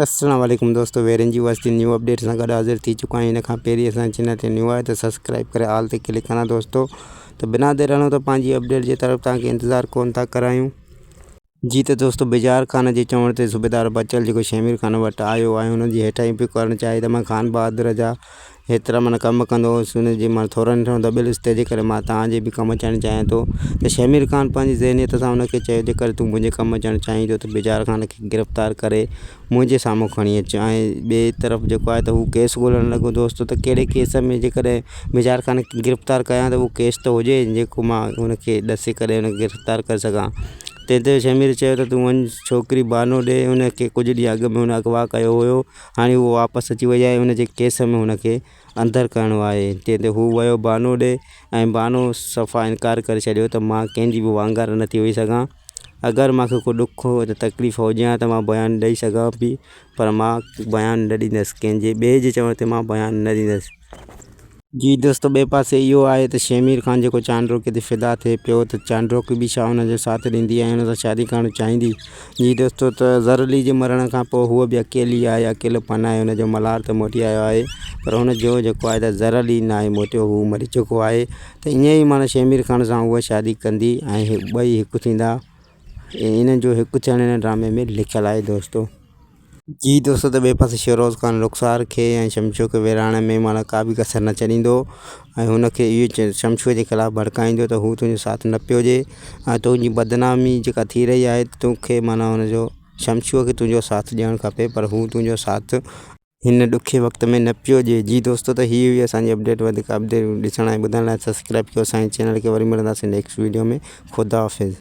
السلام عليڪم دوستو ويرين جي وستي نيو اپڊيٽ سان گڏ حاضر ٿي چڪو آهيان ان کان پهرين اسان چينل تي نيو آهي ته سبسڪرائب ڪري آل تي ڪلڪ ڪران دوستو ته بنا دير رهڻو ته پنهنجي اپڊيٽ جي طرف تان کي انتظار ڪون ٿا ڪرايون جي ته دوستو بجار خان جي چوڻ تي صوبيدار بچل جيڪو شمير خان وٽ آيو آهي ان جي هيٺاهين پيو ڪرڻ چاهي ته مان خان بهادر جا هيترا من ڪم ڪندو هوس ان جي من ٿورن ٿورن دٻيل هوس تنهنجي ڪري مان توهان جي به ڪم اچڻ چاهيان ٿو ته شهمير خان پنهنجي ذهنيت سان ان کي چيو جيڪر تون منهنجي ڪم اچڻ چاهين ٿو ته بجار خان کي گرفتار ڪري منهنجي سامهون کڻي اچ ۽ ٻئي طرف جيڪو آهي ته هو ڪيس ڳولڻ لڳو دوستو ته ڪهڙي ڪيس ۾ جيڪڏهن بجار خان کي گرفتار ڪيان ته اهو ڪيس ته هجي جيڪو مان ان کي ڏسي ڪري ان کي گرفتار ڪري سگهان تنهن تي شهمير چيو ته تون وڃ ڇوڪري بهانو ڏي ان کي ڪجهه ڏينهن اڳ ۾ هن اغوا ڪيو هيو هاڻي هو واپس اچي وئي آهي ان جي ڪيس ۾ هن کي اندر ڪرڻو آهي جنهن تي هو ويو بهانو ڏي ۽ بهانو صفا انڪار ڪري ڇڏيو ته مان ڪنهن جي به وانگر نه ٿي هئي سگهان اگر مان کي ڪو ڏک يا تڪليف هجي ها ته مان بيان ڏئي سگهان ها پر مان بيان نه ڏيندس ڪنهن جي ٻئي جي چوڻ تي مان بيان نه ڏيندس. جي دوستو ٻئي پاسي اهو آهي ته شهمير خان جيڪو چانڊروڪي تي فدا ٿئي پيو ته چانڊروڪي به ڇا ان جو ساٿ ڏيندي ۽ ان سان شادي ڪرڻ چاهيندي؟ جي دوستو ته زرلي جي مرڻ کان پوء هوء به اڪيلي آهي اڪيلو پن آهي ان جو ملهار ته موٽي آيو آهي پر ان جو جيڪو آهي ته زرلي ناهي موٽيو هو مري چڪو آهي ته ائين ئي معنيٰ شهمير خان سان هوء شادي ڪندي ۽ ٻئي هڪ ٿيندا انهن جو هڪ ٿيڻ هن ڊرامي ۾ لکيل آهي دوستو جي دوست ته ٻئي پاسي شيروز خان رخسار کي ۽ شمشو کي ويڙهائڻ ۾ ماڻا ڪا به ڪسر نه ڇڏيندو ۽ هن کي اهو چي شمشوء جي خلاف ڀڙڪائيندو ته هو تنهنجو ساٿ نه پيو ڏي ۽ تنهنجي بدنامي جيڪا ٿي رهي آهي تو کي مانا هن جو شمشوء کي تنهنجو ساٿ ڏيڻ کپي پر هو تنهنجو ساٿ هن ڏکي وقت ۾ نه پيو ڏي. جي دوستو ته هي هئي اسان جي اپڊيٽ وڌيڪ اپڊيٽون ڏسڻ ۽ ٻڌڻ لاء سبسڪرائيب ڪيو اسان جي چينل کي وري ملنداسين نيڪسٽ ويڊيو ۾ خداحافظ.